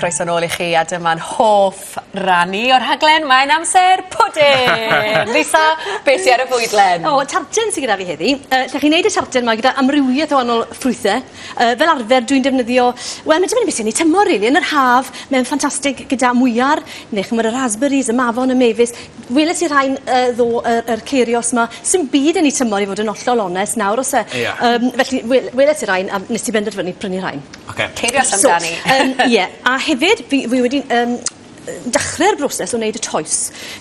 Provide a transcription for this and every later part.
Croeso nôl i chi a dyma'n hoff rannu o'r rhaglen, mae'n amser pwdin! Lisa, beth sy'n ar y fwydlen? O, tarten sy'n gyda fi heddi. Uh, lle chi'n gwneud y tarten yma gyda amrywiaeth o wahanol ffrwythau. Uh, fel arfer, dwi'n defnyddio... Wel, mae'n dibynnu beth sy'n ei tymor, rili. Yn yr haf, mae'n ffantastig gyda mwyar, neu chymryd y raspberries, y mafon, y mefus. Weles i rhai'n yy ddo y yr ceirios 'ma. Sim byd yn 'u tymor i fod yn ollol onest nawr o's e? Ia. Yym felly wel- weles i rain a nes i benderfynu prynu rhain. Oce. Ceirios amdani. So yym ie a hefyd fi fi wedi yym yy dechre'r broses o neud y toes.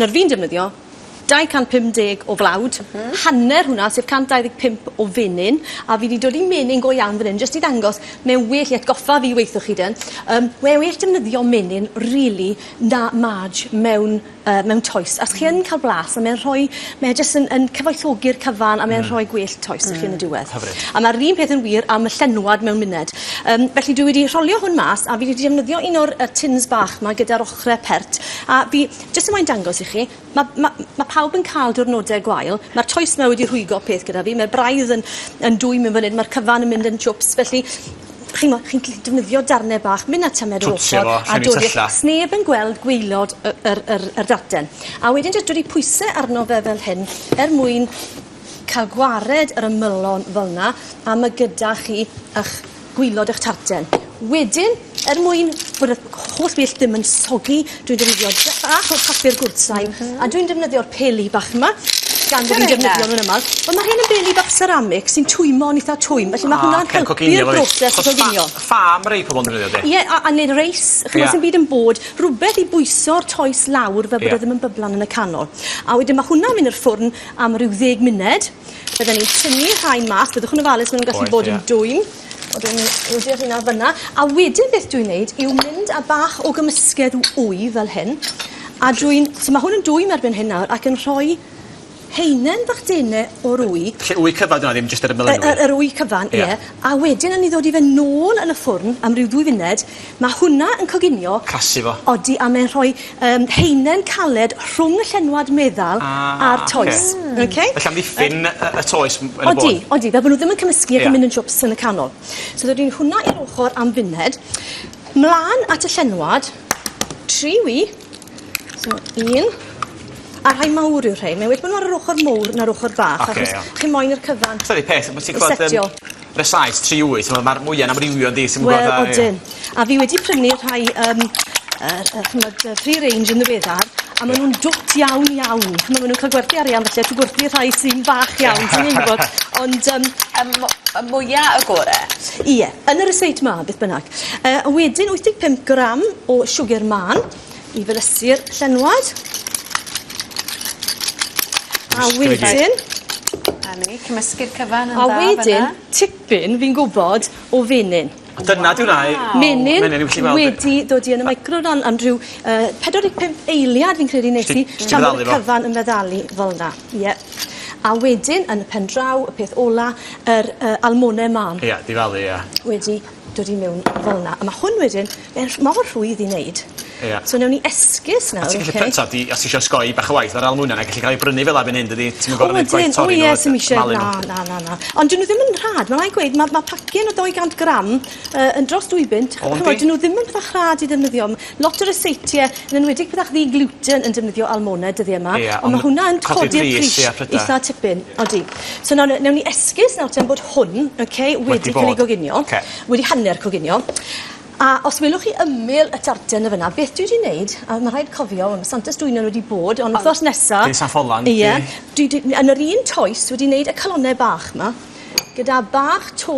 Nawr fi'n defnyddio 250 o flawd. M-hm. Hanner hwnna sef 125 o fenyn a fi 'di dod i menyn go iawn fan 'yn jyst i ddangos mae e'n well i atgoffa fi weithwch chi 'de yym mae e well defnyddio menyn rili na marj mewn yy mewn toes a os chi yn ca'l blas a mae'n rhoi mae e jyst yn yn cyfoethogi'r cyfan a mae'n rhoi gwell toes i chi yn y diwedd. Hyfryd. A ma'r un peth yn wir am y llenwad mewn muned. Yym felly dwi wedi rholio hwn mas a fi wedi defnyddio un o'r yy tins bach 'ma gyda'r ochre pert a fi jyst yn moyn dangos i chi ma' ma' ma' pawb yn ca'l diwrnode gwael ma'r toes 'ma wedi rhwygo peth gyda fi ma'r braidd yn yn dwym yn fan 'yn ma'r cyfan yn mynd yn jwps felly chi'mo' chi'n gallu defnyddio darne bach myn' a tymed yr ochor... Twtsio fo, llenwi tylla. ...a dod i'r... Sneb yn gweld gwaelod y yr yr yr darllen. A wedyn jys dod i pwyse arno fe fel hyn er mwyn ca'l gwared yr ymylon fel 'na a ma' gyda chi 'ych gwilod 'ych tarten. Wedyn er mwyn bod yr holl beth ddim yn soggy Dwi'n defnyddio bach o papur gwrtain a dwi'n defnyddio'r peli bach yma gan bo' fi'n defnyddio nw'n amal. Wel ma' rhein yn beli bach seramig sy'n twymon itha twym felly ma' hwnna'n helpu'r broses o goginio. Achos ffa- ffa ma' rei pobol yn defnyddio 'de? Ie a a neud reis ch'mo' sdim byd yn bod rwbeth i bwyso'r toes lawr fel bod o ddim yn byblan yn y canol. A wedyn ma' hwnna'n myn' i'r ffwrn am ryw ddeg munud bydden ni'n tynnu rhain mas byddwch yn ofalus ma' nw'n gallu bod yn dwym. Wel dwi'n rodio rheina fel yna. A wedyn beth dwi'n neud yw mynd â bach o gymysgedd w- wy fel hyn a dwi'n... So ma' hwn yn dwym erbyn hyn nawr ac yn rhoi haenen bach dene o'r wy. Felly wy cyfan 'di wnna ddim jyst ar y melinwy? Y y yr wy cyfan ie. Ie. A wedyn yn 'i ddod i fe nôl yn y ffwrn am ryw ddwy funed Mae hwnna yn coginio. Casu fo. Odi, a mae'n rhoi um, heinen caled rhwng y llenwad meddal ah, a'r toes. Okay. Okay? Felly amddiffyn uh, y toes yn y bôn. Odi, odi, fel bod nhw ddim yn cymysgu ac yn mynd yn jwps yn y canol. So ddod i'n hwnna i'r ochr am funed, mlaen at y llenwad, tri wi, So un. A rhai mawr yw rhein. Mae wedi bod n'w ar yr ochor mowr na'r ochor bach... Oce iawn. ...achos chi moyn i'r cyfan... T'od y peth ma' ti clwad yym... ...i setio. ...yn y Saes tri wyth t'mo' ma'r mwy yn amrywio yndi ti'm yn gwbo fatha... Wel odyn. A fi wedi prynu rhai yym yy yy ch'mbod yy free range yn ddiweddar a ma' nw'n dwt iawn iawn. Ch'mo' ma' nw'n ca'l gwerthu arian felly a ti gwerthu rhai sy'n fach iawn ti ddim yn gwbod ond yym... Y mo- y mwya y gore. Ie yn y rysáit 'ma beth bynnag. Yy a wedyn wyth deg pump gram o siwgr mân. i felysu'r llenwad. A wedyn... A ni, cymysgu'r cyfan yn dda fyna. A wedyn, tipyn, fi'n gwybod, o fenyn. Dyna di hwnna i... Menyn wedi dod i yn y meicroran am ryw uh, 45 eiliad fi'n credu nes i tan bod y cyfan yn meddalu fel yna. Ie. A wedyn, yn y pen draw, y peth ola, yr uh, almone mam. Ie, di falu, ie. Wedi dod i mewn fel 'na a ma' hwn wedyn mae'n rh- mor rhwydd i neud. Ia. So newn ni esgus nawr oce? A ti gallu pry- t'od i os tisio osgoi bach o waith ar ail mwyn a 'nai gellu ca'l ei brynu fela fyn 'yn dydi? Ti'm yn gor'o' neud gwaith torri n'w a d- malu n'w. O ydyn o ie sim isie na na na na. Ond 'dyn n'w ddim yn rhad ma' rai' gweud ma' ma' pacyn o dou gant gram yy yn dros dwy bunt. O yndi? Ch'mod 'dyn n'w ddim yn peth bach rhad i ddefnyddio m- Lot o ryseitiau, yn enwedig pethau ddi-gluten yn defnyddio almonau dyddie yma. Ie, ond... Ond ma' hwnna yn codi'r pris... Codi'r pris, ie, prydau. ...eitha tipyn, odi. So nawr, newn ni esgus nawr ten bod hwn, oce, wedi... Wedi bod. ...ca'l ei goginio. Oce. Wedi hanner coginio. A os welwch chi ymyl y tarten yn fynna, beth dwi 'di neud, a ma' rhaid cofio, wel ma' Santes Dwynwen wedi bod, ond wthnos nesa... Dydd San Ffolan. Ie. Dwi 'di, yn yr un toes, wedi neud y calonnau bach 'ma, gyda bach to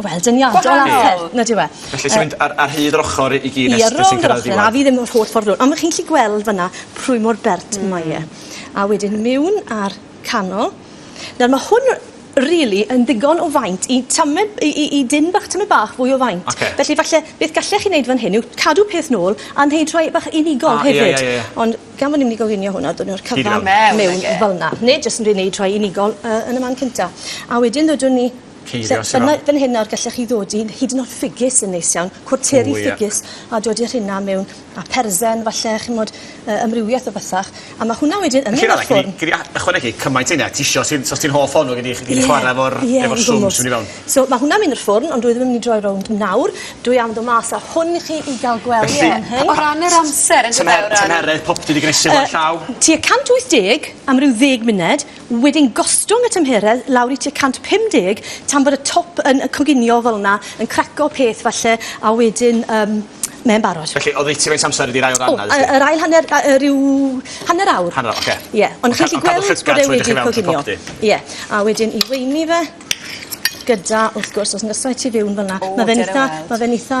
Wel dyniadol... Gwahanol. ...a phe- nag yw e? Felly ti'n mynd ar ar hyd yr ochor i gyd nes nes ti'n cyrraedd y diwedd? A fi ddim yr holl ffordd rownd on' ma' chi'n gllu gweld fan 'na pwy mor bert mae e. A wedyn miwn a'r canol. Nawr ma' hwn rili yn ddigon o faint i tamed i i i dyn bach tymed bach fwy o faint. Oce. Felly falle beth gallech chi neud fan hyn yw cadw peth nôl a neud rhai bach unigol hefyd. A ie ie ie ie. Ond gan bo' ni myn' i goginio hwn a dod â nw'r cyfan... Hyd iawn. ...mewn fel 'na. Neu jyst yn roi neud rhai unigol yy yn y man cynta. A wedyn ddodwn ni Ceirios yr Afon. Fan hyn nawr gallech chi ddod i hyd yn oed ffigys yn neis iawn, cwarteri ffigys, a dod i'r rheina mewn, a persen falle, chimod, yy amrywiaeth o bethach, a ma' hwnna wedyn yn mynd i'r ffwrn. Felly Ragnar, gei di ychwanegu cymaint â hynna ti isio, os ti'n os ti'n hoff ohonno gei di gei di chwara efo'r efo'r swm sy'n mynd i fewn. So ma' hwnna'n mynd i'r ffwrn ond dwi ddim yn mynd i droi rownd nawr, dwi am ddo' mas â hwn i chi i ga'l gweld e fan hyn. O ran yr amser yndyfe o ran... Tymer- tymheredd popty 'di gnesu fo ar llaw. Yy tua 180 am ryw ddeg munud, Wedyn gostwng y tymheredd lawr i tua 150 tan bod y top yn yy coginio fel 'na, yn craco peth falle, a wedyn yym mae'n barod. Felly, oddeutu faint o amser ydi'r ail ran 'na felly? O, yy yr ail hanner a- yy ryw hanner awr. Hanner awr, ocê. Ie, ond chi'n gallu gweld bod e wedi coginio. Ie, a wedyn i weini fe gyda, wrth gwrs, os neshi ti fewn fel 'na, ma' fe'n itha, ma' fe'n itha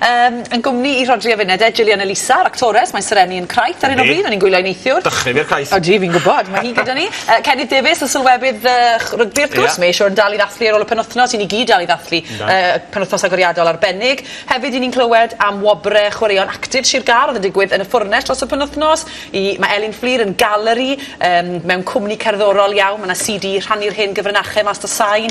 Yym, yn gwmni 'i Rhodri a Fined e, Gillian Elisa, yr actores, mae Sir Enni yn Craith ar hyn o bryd, mae'n ein gwylio i neithiwr. Dychryn i'r Craith. Ydi, fi'n gwybod, mae hi gyda ni. Yy, Cennydd Davies, y sylwebydd yy ch- rygbi wrth gwrs, Ie. mae e siŵr yn dal i ddathlu ar ôl y penwythnos, i ni gyd dal i ddathlu Yndan. yy y penwythnos agoriadol arbennig. Hefyd, 'yn ni'n clywed am wobre chwaraeon actif Sir Gâr oedd yn digwydd yn y Ffwrnes dros y penwythnos, i- mae Elin Fflur yn galeri, yym, mewn cwmni cerddorol iawn, ma' 'na CD rhannu'r hen gyfrinachau mas 'da sain,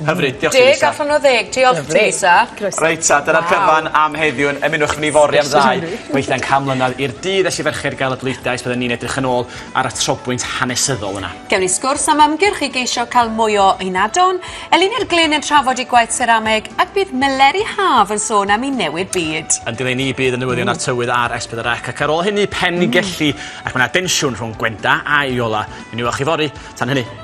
Hyfryd diolch Teresa. Deg allan o ddeg diolch Teresa. Croeso. Reit 'ta dyna'r cyfan am heddiw'n ymunwch efo ni fory am ddau weithiau'n can mlynedd i'r dydd es i ferched gael y bleidlais byddwn ni'n edrych yn ôl ar y trobwynt hanesyddol yna. Gewn ni sgwrs am ymgyrch i geisio cael mwy o ynadon, Elini'r Glyn yn trafod ei gwaith serameg ac bydd Meleri Haf yn sôn am i newid byd. Yn dileu ni bydd y newyddion a'r tywydd ar S4C ac ar ôl hynny Pen-y-gelli ac mae 'na densiwn rhwng Gwenda a Iola. Mi wnewch chi fory. Tan hynny.